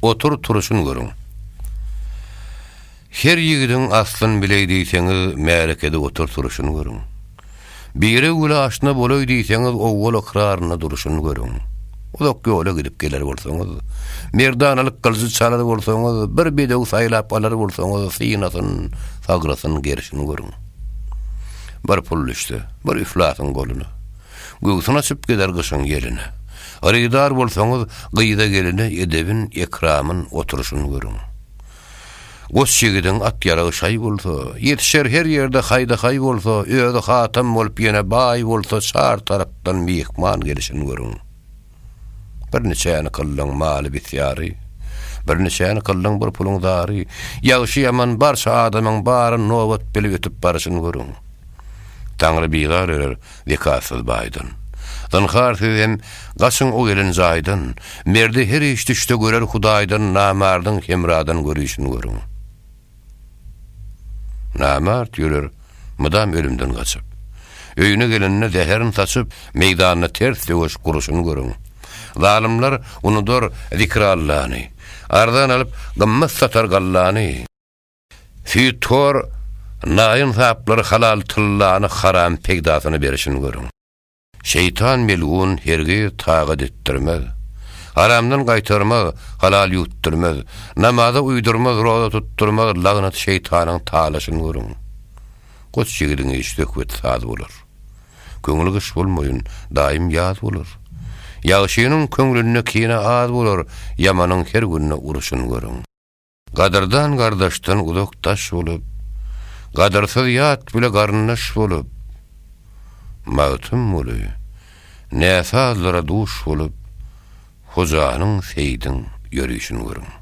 Otur turuşyn görüň. Her ýigidiň aslyn bileý diýseňiz märekede otur turuşyn görüň. Bire güle aşna bolaý diýseňiz owwal ykrarynda duruşyn görüň. Uzak ýola gidip geler bolsaňyz, merdanalyk gylyjy çalar bolsaňyz, bir bedew saýlap alar bolsaňyz synasyn, sagrasyn gerişin görüň. Bir pul düşse, bir üflasyň goluna. Göwsün açyp geler gyşyň ýeline. Hyrydar bolsaňyz, gyza-geline Edebin, ekramyn, oturyşyn görüň. Goç ýigidiň at ýaragy şaý bolsa, Ýetişer her ýerde haýda-haý bolsa, Özi hatam bolup ýene baý bolsa, Çar tarapdan myhman gelişin görüň. Birniçäni kyldyň maly bisyary, Birniçäni kyldyň bir puluň zary, Ýagşy-ýaman barça adamyň bary Nobat bilip ötüp baryşyn görüň. Taňry bizar örer zekatsyz baýdan. Zynhar siz hem gaçyň o gelen jaýdan, Merdi her iş düşde görer Hudaýdan Namardyň hemradan görüşin görüň. Namart ýörer mydam ölümden gaçyp. Öýüne gelende zäherin saçyp, meýdanda ters söweş guruşyny görüň. Zalymlar unudar Zikrallany, arzan alyp, gymmat satar gallany. Süýthor naýynsaplar halal tyllany haram peýdasyna berişini görüň. Şeýtan melgun hergiz tagat etdirmez. Haramdan gaýtarmaz, halal ýutdurmaz, namaza uýdurmaz, roza tutdurmaz, lagnat şeýtanyň talaşyny görüň. Goç ýigidiň işi söhbet saz bolar. Köňli gyş bolmaýyn, daýym ýaz bolar. Ýagşynyň köňlünde kine az bolar, ýamanyň her günde urşuny görüň. Gadyrdan gardaşdan uzak daş bolup, Gadyrsyz ýat bile garyndaş bolup, Magtymguly, näsazlara duş bolup, Hojanyň, Seýdiň ýörişini görüň.